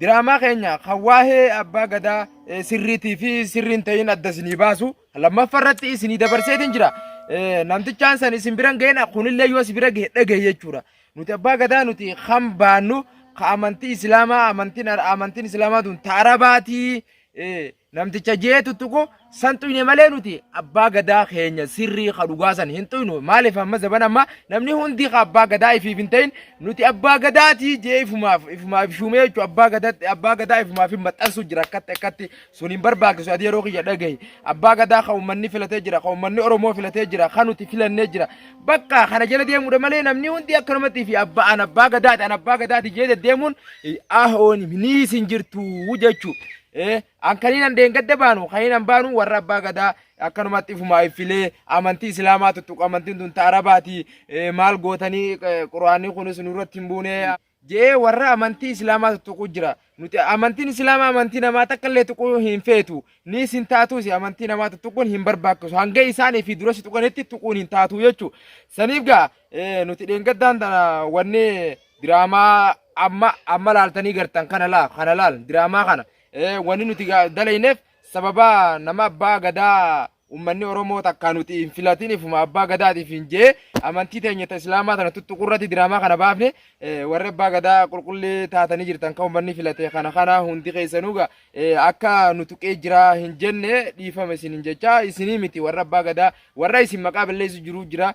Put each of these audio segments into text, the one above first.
Diraamaa keenya kan waa'ee abbaa gadaa eh, sirriitii fi sirriin ta'in adda isinii baasu lammaffaa irratti isinii dabarseetiin jira. Eh, Namtichaan san isin biran ga'een kunillee yoo si bira gahe dhagahe jechuudha. Nuti abbaa gadaa nuti kan baannu ka amantii islaamaa amantiin amantiin islaamaa tun ta arabaatii eh, Namticha jee tuttuqu san tuyne malee nuti abbaa gadaa keenya sirrii ka dhugaa san hin tuynu maaliif amma zaban amma namni hundi ka abbaa gadaa ifiif hin ta'in nuti abbaa gadaatii jee ifumaaf ifumaaf shuumee jechuun abbaa gadaatti abbaa gadaa ifumaaf hin maxxansu jira akkatti akkatti sun hin barbaachisu ati yeroo kiyya dhagahi abbaa gadaa ka uummanni filatee jira ka uummanni oromoo filatee jira ka nuti filannee jira bakka kana jala deemuudha malee namni hundi akkanumatti fi abbaa an abbaa gadaati an abbaa gadaati jee deddeemuun ahoon ni isin jirtu jechuu Ee, an kaniinan deengadda baanu kaniinan baanu warra abbaa gadaa akkanumatti ifumaa iffilee amantii islaamaa tuttuqa amantiin tun ta arabaati ee, maal gootanii ee, quraanii kunis nurratti hin buune jee warra amantii islaamaa tuttuqu jira nuti amantiin islaamaa amantii namaa takka illee tuquu hin feetu ni isin taatuus amantii namaa tuttuquun hin barbaachisu hanga isaanii fi dura si tuqanitti tuquun hin taatu jechuu saniif gaa Eh, nuti dheengaddaan tana wanni diraamaa amma amma laaltanii gartan kana laa kana laal diraamaa kana eh, wanni nuti ga- dalayneef sababa nama abbaa gadaa ummanni oromoo takka nuti hin filatiniif uma abbaa gadaatiif hin jee amantii teenya ta islaamaa tana tuttuquu irratti diraamaa kana baafne eh, warri abbaa gadaa qulqullii taatanii jirtan kan ummanni filate kana kana hundi keessanuu ga eh, akka nu tuqee jira hin jenne dhiifama isin hin jechaa isinii miti warra abbaa gadaa warra isin maqaa balleessu jiru jira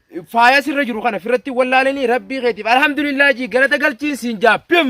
faaya sirra jiru kana firratti wallaalanii rabbii keetiif alhamdulillah jii galata galchiin siin jaa pim